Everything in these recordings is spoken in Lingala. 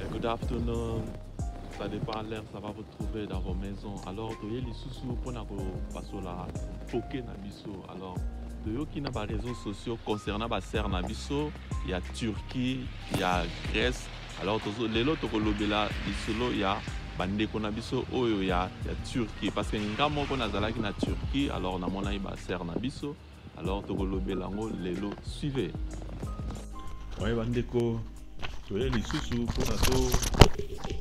Eh, good afternoon. Ça dépend à l'heure, ça va vous trouver dans vos maisons. Alors, toye lisusu pona ko pasola poke na biso. Alors, toyoki na ba réseaux sociaux concernant ba sœurs na biso ya Turquie, ya Grèce. Alors, tozo lelo tokolobela lisolo ya bandeko na biso oyo ya, ya Turquie parce que nga moko nazalaki na Turquie alors namonaki ba sœurs na biso alors tokolobela yango lelo suive oye bandeko toye lisusu mpona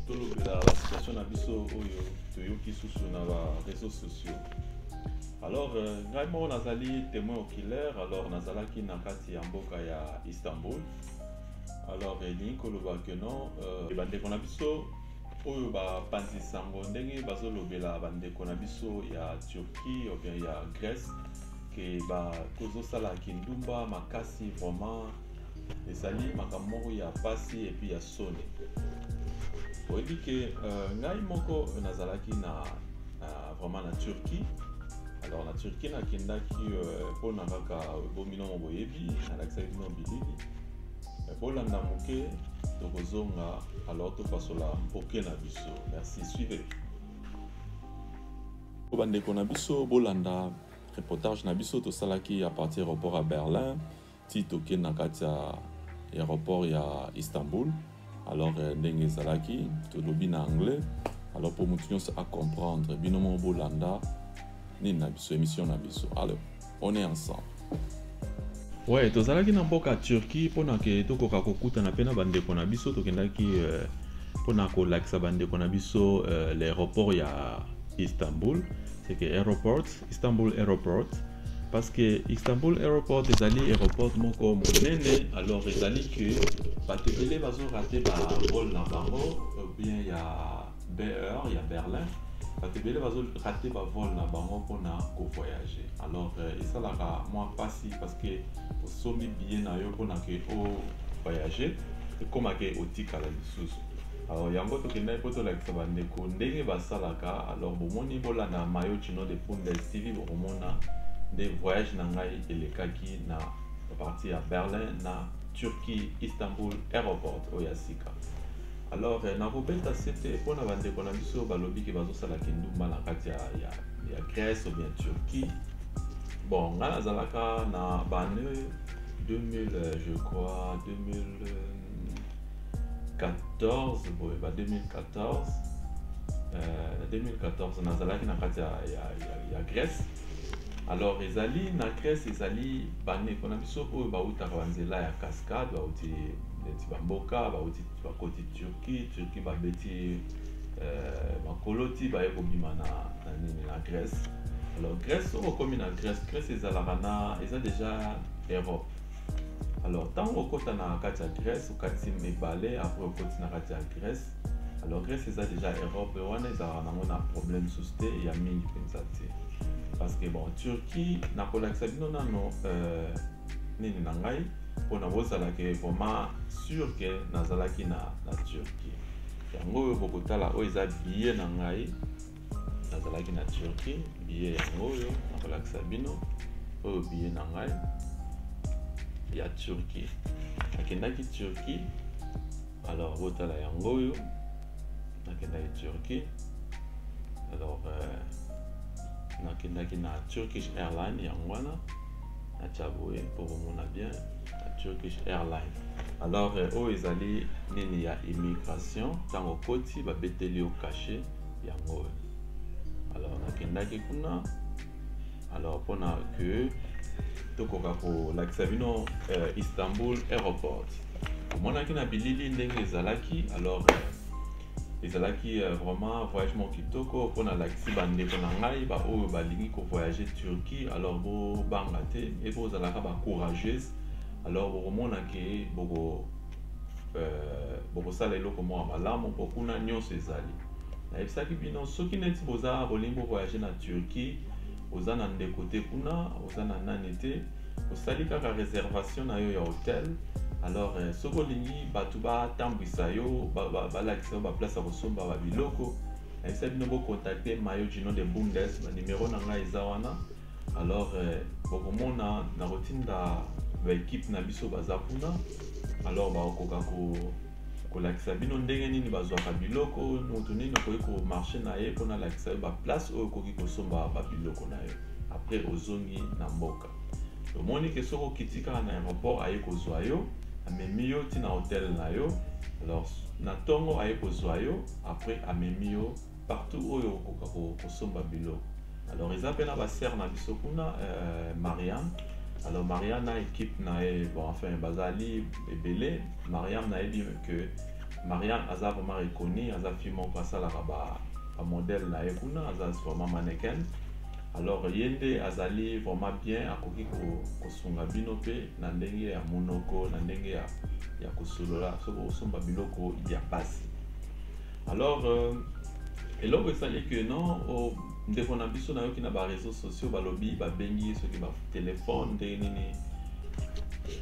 tolobela basituation na biso oyo toyoki susu na bareseau sociaux alors euh, ngai moko nazali témoin oculaire alors nazalaki na kati ya mboka ya istanbul alors elingi koloba ke non euh, bandeko na biso oyo bapanzi sango ndenge bazolobela bandeko na biso ya turquie obien ya grèce ke ba tozosala kindumba makasi vraiment ezali makambo moko ya pasi epuis ya soni oyebi ke uh, ngai moko nazalaki na uh, vraiment na turquie alors na turquie nakendaki euh, mpo uh, na kaka bomino mo boyebi nalakisaki bino bilili bolanda moke tokozonga alors topasola mpoke na biso merci suivez bandeko na biso bolanda reportage na biso tosalaki ya parti aéroport ya berlin ti tokei na kati ya aéroport ya istanbul alors euh, ndenge ezalaki tolobi na anglais alors mpo motu nyonso acomprendre bino moko bolanda nini na biso émission na biso alors on est ensemble we tozalaki na mboka turquie mpona ke tokoka kokutana mpe na bandeko na biso tokendaki euh, mpona kolakisa bandeko na biso euh, l'aéroport ya istanbul seke aéroport istanbul aéroport parce que istanbul aéroport ezali aéroport moko monene alors ezali ke bato ebele bazorate barole na bango bien ya BER ya Berlin bato ebele bazo rate ba vol na bango mpona ko voyager alors euh, esalaka mwa mpasi parce que osombi billet na yo mpona ke o voyager ekoma ke otikala lisusu alors yango tokendaki mpo tolakisa bandeko ndenge basalaka alors bomoni bolanda mayo chino de pundes tv bokomona nde voyage na ngai elekaki na parti ya berlin na turquie istanbul aéroport oyo ya sika alors eh, nakobeta sete mpo na bandeko na biso balobi ke bazosala kindumba na kati ya, ya, ya grèce obien turquie bon ngai nazalaka na bane 2000 eh, je crois 2014 boye ba 2014 euh, 2014 nazalaki na kati ya, ya, ya, ya grèce alors ezali na grèce ezali bandeko na biso oyo bautaka banzela ya cascade bauti neti bamboka bauti bakoti turquie turquie babeti euh, makolo ti baye kobima na, na nini na grèce alors grèce soki okomi na grèce grèce ezalaka na eza déjà europe alors ntango okota na kati ya grèce okati mibale apres okoti na kati ya grèce alors grèce eza déjà europe wana ezalaka nango na problème susu te ya mingi mpenza te parce que bon turquie nakolakisa bino nano euh, nini na ngai mpo na bozala ke vraiment sur ke nazalaki na, na turquie yango oyo bokotala oyo eza biye na ngai nazalaki na turquie biye yango oyo nakolakisa bino oyo biye na ngai ya turquie nakendaki turquie alors botala yango oyo nakendaki turquie alors euh, nakendaki na turkish airline yango wana atia boye mpo bomona bien na turkish airline alors euh, oyo ezali nini ya immigration ntango okoti babeteli yo kashe yango oyo alors nakendaki kuna alors mpona ke tokoka kolakisa bino euh, istanbul aéroport omonaki na bilili ndenge ezalaki alors euh, ezalaki euh, vraiment voyage moko kitoko mpo nalakisi bandeko na ngai baoyo balingi kovoyage turquie alors bobanga te e bozalaka bacourageuse alors bokomona ke boko euh, bokosala eloko moko malamu mpo kuna nyonso ezali nayebisaki bino soki neti boza bolingi bovoyage na turquie oza na ndeko te kuna oza na nani te osali kaka reservation na yo ya hotel alors euh, soki olingi bato batambwisa yo balakisa yo baplace ya kosomba babiloko nayebisa bino bokontakte mayo gino de bundes banimero na ngai eza wana alors euh, bokomona nakotinda baekipe na biso baza kuna alors bakokoka ko kolakisa bino ndenge nini bazwaka biloko moto nini okoki komarche na ye mpona alakisa yo baplace oyo okoki kosomba babiloko na yo après ozongi na mboka omoni ke soki okiti kaka na aéroport aye kozwa yo amemi yo ntina hotel na yo alors na ntongo aye kozwa yo après amemi yo partout oyo okoka kosomba biloko alors eza mpe na basere na biso kuna euh, mariane alors mariane na équipe na ye bon enfin bazali ebele mariane nayebi que mariane aza vraiment reconi aza fille moko asalaka bamodele na ye kuna aza vraiment mannequin alors ye nde azali vraiment bien akoki kosunga bino mpe na ndenge ya monoko na ndenge ya, ya kosolola soki osomba biloko ya pasi alors euh, eloko esali que non oh, ndeko na biso nayoki na bareseau sociaux balobi babengi ye soki batelefone ndenge nini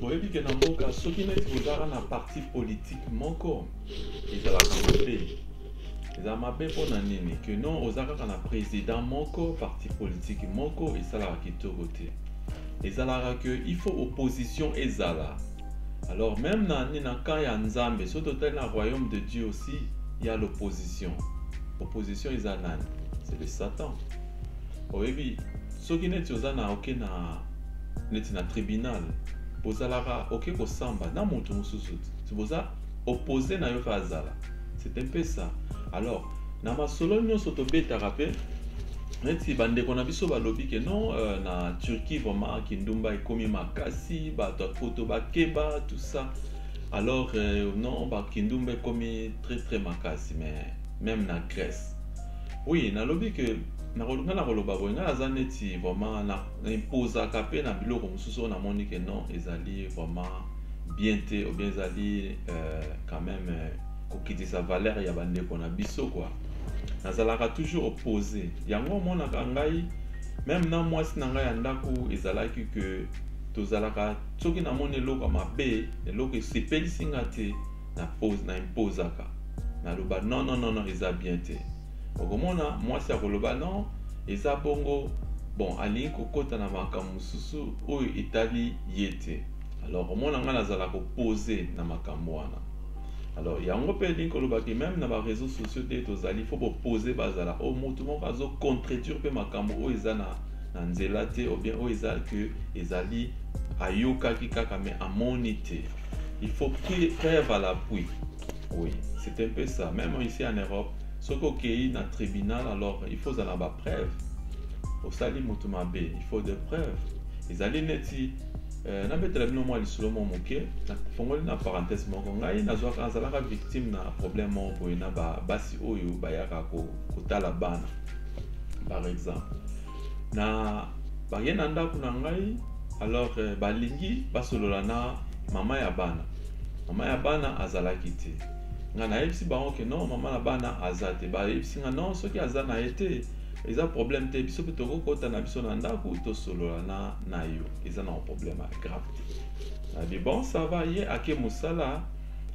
boyebi ke na mboka soki neti bozalaka na parti politike moko ezalaka mabe eza mabe mpo na nini ke non oza kaka na président moko parti politike moko esalaka kitoko te ezalaka ke il faut opposition ezala alors meme na nini na camp ya nzambe soki totali na royaume de dieu aussi ya l'opposition opposition eza nani c'est le satan oyebi soki neti oza na oke na neti na tribunal bozalaka oke kosamba na moto mosusu boza oppose na yo mpe azala c'est un peu ça alors na masolo nyonso tobetaka mpe neti bandeko na biso balobi ke non euh, na turquie vraiment kindumba ekomi makasi bato ya poto bakeba tout ça alors euh, non bakindumba ekomi très très makasi mais même na grèce oui nalobi ke nakolinga na koloba boye ngai aza neti vraiment na na impozaka mpe na biloko mosusu oyo namoni ke non ezali vraiment bien te obien ezali euh, quand même euh, kokitisa valeur ya bandeko na biso kua nazalaka toujours oppose yango omonaka ngai meme na mwasi na ngai ya ndako ezalaki ke tozalaka soki namoni eloko mabe eloko esepelisi nga te na impozaka naloba non non non non eza bien te okomona mwasi akoloba non eza bongo bon alingi kokota na makambo mosusu oyo etali ye te alors omona ngai nazala kopose na makambo wana alors yango mpe elingi koloba ke meme na bareseau sociaux nde tozali fo bopose bazala oyo oh, motu moko azocontredire mpe makambo oyo eza na, na nzela te obien oyo eza ke ezali ayokaki kaka me amoni te il faut preuve à l'appui Oui, c'est un peu ça. Même ici en Europe, ce qu'il dans le tribunal, alors il faut avoir des preuves. Au salut Moutoumabé, il faut des preuves. Ils allaient nettoyer. Euh, na betela bino mwa lisolo mwa moke nafongoli na parenthèse moko ngai nazwaka nazalaka victime na problème moko boye na basi oyo bayaka kotala bana par exemple na baye na ndako na ngai alors euh, balingi basolola na mama ya bana mama ya bana azalaki te nga nayebisi bango ke non mama na bana aza te bayebisi nga non soki aza na ye te eza problème te biso mpe tokokota na biso na ndako tosolola na na yo eza na problème ya grave te na bon ça va ye ake mosala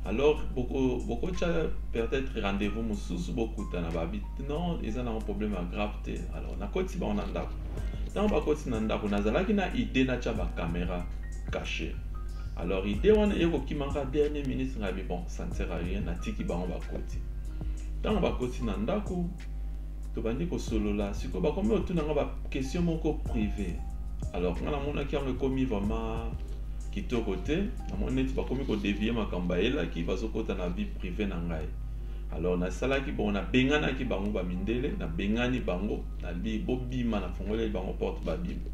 alors bokotya peut-être rendez-vous mosusu bokutana babi non eza nango problème ya grave te alors nakoti bango na ndako ntango bakoti na ndako nazalaki na idée natya bacaméra caché alors idée wana eye kokimaka dernier ministre ngabi bon ça ne sert à rien natiki bango bakoti ntango bakoti na ndako tobandi kosolola sikoyo bakomi kotuna nga baquestion moko privé alors nga namonaki yango ekomi vraiment kitoko te namoni neti bakomi kodevie makambo bayelaki bazokota na vie privé na ngai alors nasalaki bongo nabenganaki bango bamindele nabengani bango nali bobima nafungoleli bango porte babima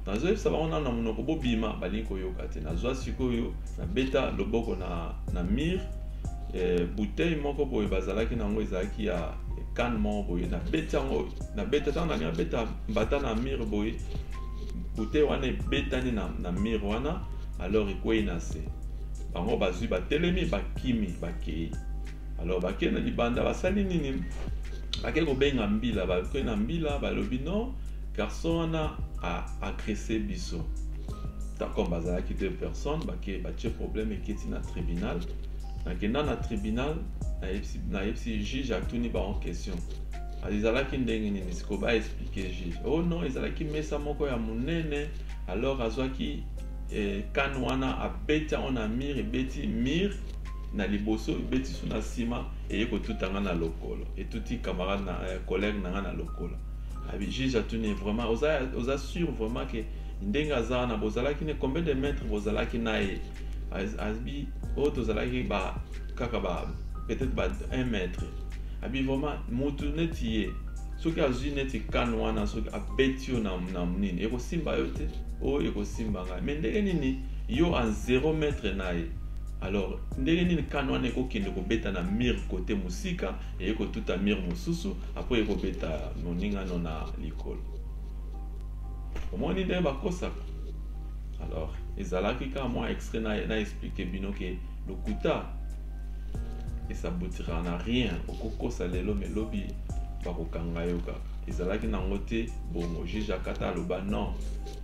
nazoyebisa bango nano na monoko bobima balingi koyoka te nazwa sikoyo nabeta loboko na, na mire eh, bouteille moko boye bazalaki na yango ezalaki ya kane moko boye nabeti yango nabeta ntango nalingi abeta mbata na mire boye bouteille wana ebetani na, na mire wana alors ekwei na se bango bazwi batelemi bakimi bakei alors bakei na libanda basali nini bakei kobenga mbila bakei na mbila balobi non garçon wana a agresse biso tant comme bazalaki deux personnes bake batie problème eketi na tribunal nakenda na tribunal nayebisi juge atuni bango question ezalaki ndenge nini siko ba explique juge oh non ezalaki mesa moko ya monene alors azwaki eh, kane wana abeti yango na mur ebeti mur na liboso ebeti so na nsima eye kotutanga na lokolo etuti camarade na eh, collègue na ngai na lokolo Abi juge atuni vraiment oza oza sûr vraiment que ndenge aza wana bozalaki ne combien de mètres bozalaki na ye abi oyo tozalaki ba kaka ba peut-être ba 1 mètre abi vraiment mutu neti ye soki azwi neti kane wana soki abeti yo na, na nini ekosimba yo te oyo ekosimba ngai me ndenge nini yo a 0 mètre na ye alors ndenge nini kane wana ekokende kobeta na mire kote mosika Eye kotuta mur mosusu apo eye kobeta moninga no na likolo. Omoni ndenge bakosaka? Alors, ezalaki kaka mwa extrait na, na explique bino ke lokuta esabotira na rien. Okokosa lelo me lobi bakokanga yo kaka. Ezalaki nango te bongo. Juge akata aloba non,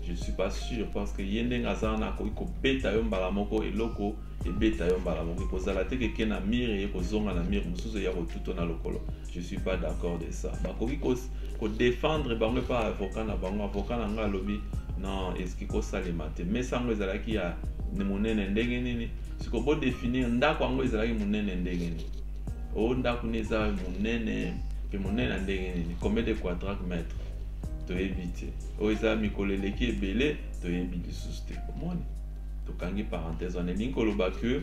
je suis pas sûr parce que ye ndenge aza wana akoki kobeta yo mbala moko eloko ebeta yo mbala moko ekozala te keke na mire eye kozonga na mire mosusu eya kotuto na lokolo je suis pas d'accord de ça bakoki kodefendre ko bango epa avocat na bango avocat na ngai alobi non eski kosalema te mesa yango ezalaki ya monene ndenge nini siko bodefinir ndako yango ezalaki monene ndenge nini o oh, ndako nini eza monene mpe monene ya ndenge nini combien de quadraque mètre toyebi te oyo oh, eza mikolo eleki ebele toyebi lisusu te omoni tokangi parenthèse wana elingi koloba que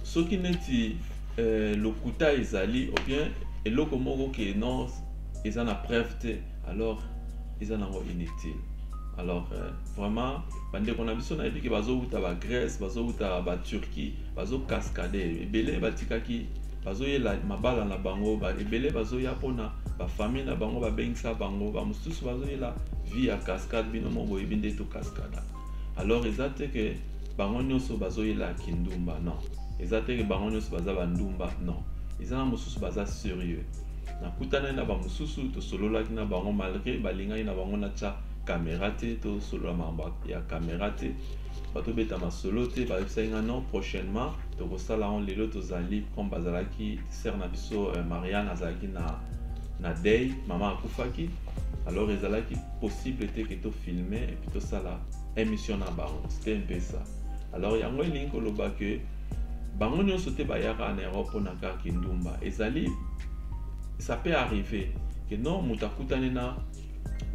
soki neti euh, lokuta ezali ou bien eloko moko ke non eza na preuve te alors eza nango inutile alors euh, vraiment bandeko na biso nayebi ke bazowuta bagrèce bazowuta baturquie bazocascade ebele batikaki bazoyela mabala na bango ba ebele bazoya mpona bafamille na bango babengisa bango bamosusu bazoyela vie ya cascade bino moko boyebi nde to cascada alors eza te ke bango nyonso bazoyela kindumba non eza te ke bango nyonso baza bandumba non eza na mosusu baza serieux nakutani na bamosusu tosololaki na bango malgre balingaki na bango natya kamera te tosolola makambo ya kamera te bato beta masolo te bayebisaki nga non prochainement tokosala yango lelo tozali comme bazalaki sere na biso euh, mariane azalaki na na dei mama akufaki alors ezalaki possible te ke tofilme epuis tosala émission na bango c'était un peu ça alors yango elingi koloba ke bango nyonso te bayaka na europe mpona kaka kindumba ezali ça peut arriver ke non moto akutani na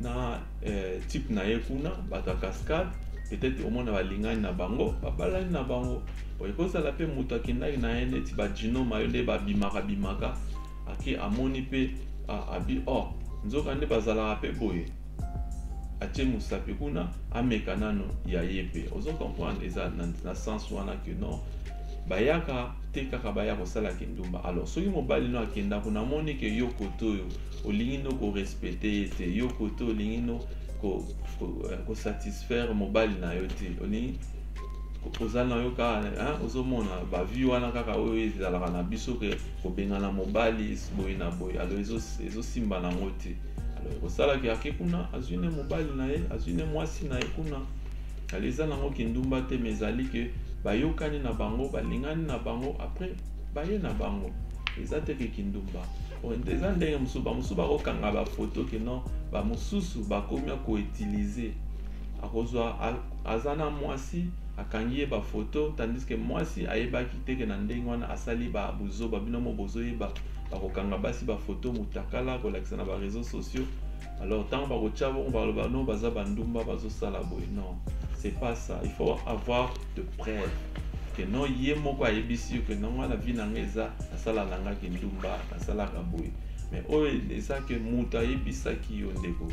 na eh, type na ye kuna bato ya cascade peut-être omona balingani na bango babalani na bango boye kozala mpe moto akendaki na ye neti bajinoma yo nde babimaka bimaka ake amoni mpe abi o oh, nzoka nde bazalaka mpe boye atie mosapi kuna ameka nano ya ye mpe ozo comprendre eza na, na sens wana ke non bayaka te kaka baya kosala kindumba alors soki mobali no akenda kuna amoni ke yo kote oyo olingi ndo ko respecter ye te yo kote olingi no ko, ko, eh, ko satisfaire mobali na yo te olingi oza na yo kaka ozomona bavie wana kaka oyo ezalaka na biso ke kobengana mobali boye na boye alo ezosimba nango te alo ekosalaki ake kuna azwi ne mobali na ye azwi ne mwasi na ye kuna alo eza nango kindumba te me ezali ke bayokani na bango balingani na bango après baye na bango eza te ke kindumba eza ndenge mosusu bamosusu bakokanga bafoto ke non bamosusu bakomi koutilize akozwa aza na mwasi akangi ye bafoto tandis ke mwasi ayebaki teke na ndenge wana asali ba buzoba bino mo bozoyeba bakokanga basi bafoto motakala kolakisa na bareseau sociaux alors ntango bakotya bongo baloba no baza bandumba bazosala boye non c'est pas ça il faut avoir de preuve que non ye moko ayebisi yo que non nga na vie na nga eza nasala nangaki ndumba nasalaka boye mais oyo eza que moto ayebisaki yo ndeko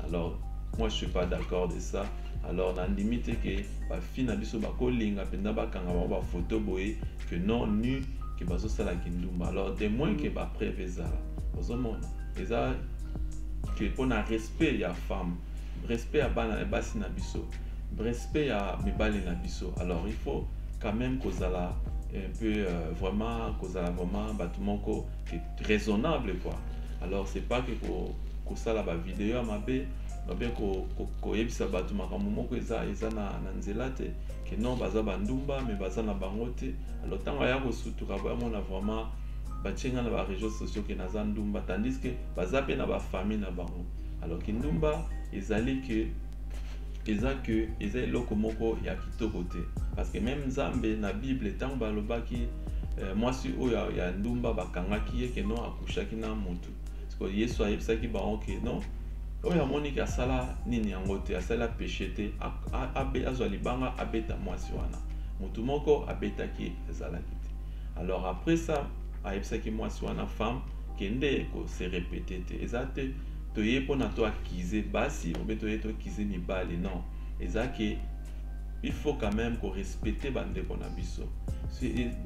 alors moi je suis pas d'accord de ça alors nandimi te ke bafi na biso bakolinga mpenza bakanga bango bafoto boye que non nu ke bazosala kindumba alors de moins ke bapreve ezala ozomona eza que mpo na respect ya femme respect ya bana ya basi na biso respect ya mibali na biso alors il faut quand même kozala un peu euh, vraiment kozala vraiment bato moko raisonnable quoi alors c'est pas que ko, kosala bavideo ya mabe babe koyebisa ko, ko bato makambo moko eza eza na, na nzela te ke non baza bandumba me baza na bango te alors ntango aya kosutuka boyamona vraiment batie nga na ba réseaux sociaux ke naza ndumba tandis que baza mpe na ba famille na bango alors kindumba ezali que eza que eza eloko moko ya kitoko te parce que même nzambe na bible ntango balobaki euh, mwasi oyo ya ndumba bakangaki ye ke non akushaki na motu siko yesu ayebisaki bango ke non oyo amoniki asala nini yango te asala peshe te azwa libanga abeta mwasi wana motu moko abetaki ezalaki alors après ça ayebisaki mwasi wana femme kende kose repete te eza te toye mpona to akize basi obe toye tokize mibali non eza ke il faut quand même korespecte bandeko na biso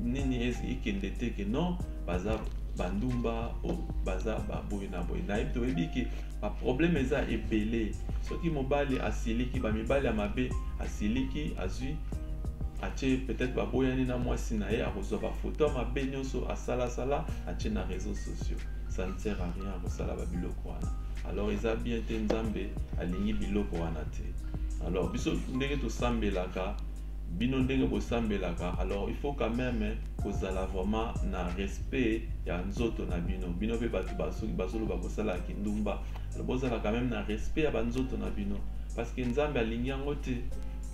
nini ekende te ke non baza bandumba o baza baboye na boye nayebi toyebi ke ba problème eza ebele soki mobali asiliki ba mibali ya mabe asiliki azwi atie peut-être baboyani na mwasi na ye akozwa bafoto ya mabe nyonso asalasala atie na réseaux sociaux ça ne sert à rien akosala babiloko wana alors eza bien te nzambe alingi biloko wana te alors biso ndenge tosambelaka bino ndenge bosambelaka alors il faut quand même kozala vraiment na respect ya nzoto na bino bino mpe bato basoki bazoloba kosala ya kindumba bozala quand même na respect ya banzoto na bino parce que nzambe alingi yango te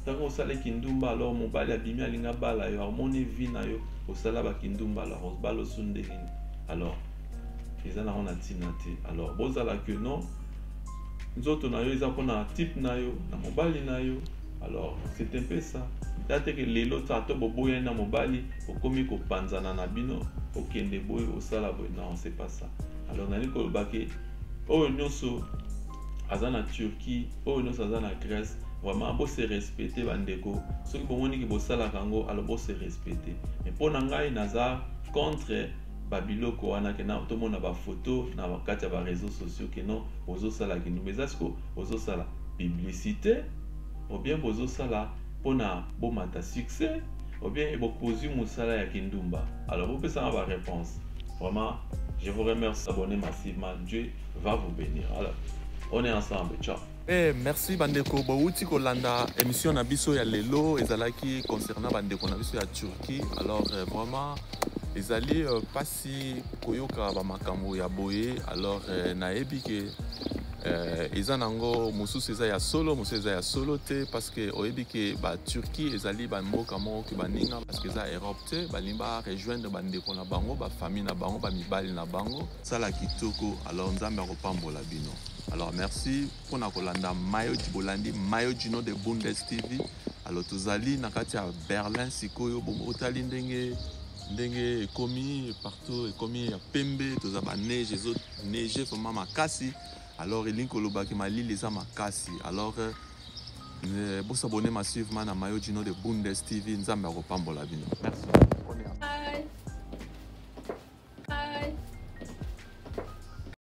ntango osali kindumba alors mobali abimi alingi abala yo amoni vi na yo osala bakindumba alors obala osu ndenge nini alors eza nango na ntina te alors bozala que non nzoto na yo eza mpona type na yo na mobali na yo alors c'est un peu ça date ke lelo ata boboyani na mobali okomi kopanzana na bino okende boye osala boye non c'est pas ça alors nalingi koloba ke oyo nyonso aza na turquie oyo nyonso aza na grèce vraiment bose respecte bandeko soki bomoni ke bosalaka yango alors bose respecte mais mpo na ngai naza contre babiloko wana ke tomona bafoto na kati ya bareseau sociaux ke non bozosalaki ndumba eza siko bozo sala publicite ou bien bozo sala pona bomata succès ou bien ebo kozui musala ya kindumba alors bopesa nga ba réponse vraiment je vous remercie abonné massivement Dieu va vous bénir alors on est ensemble ciao Eh, merci bandeko bowuti kolanda émission na biso ya lelo ezalaki concernant bandeko na biso ya Turquie alors euh, vraiment ezali euh, pas si koyoka bamakambo ya boye alors euh, nayebi ke euh, eza nango mosusu eza ya solo mosusu eza ya solo te parce que oyebi ke baturquie ezali bamboka moko ke baninga parce que eza europe te balingi barejoindre bandeko na bango bafamille na bango bamibali na bango sala kitoko alors nzambe akopambola bino alors merci mpona kolanda mayoji bolandi mayoji no de bundes tv alors tozali na kati ya berlin sikoyo otali ndenge ndenge ekomi partout ekomi ya pembe toza ba neige ezo neige vraiment makasi alors elingi koloba ke malili eza makasi alors euh, Eh, bosabone massivement na mayo gino de bundes tv nzambe akopambola bino merci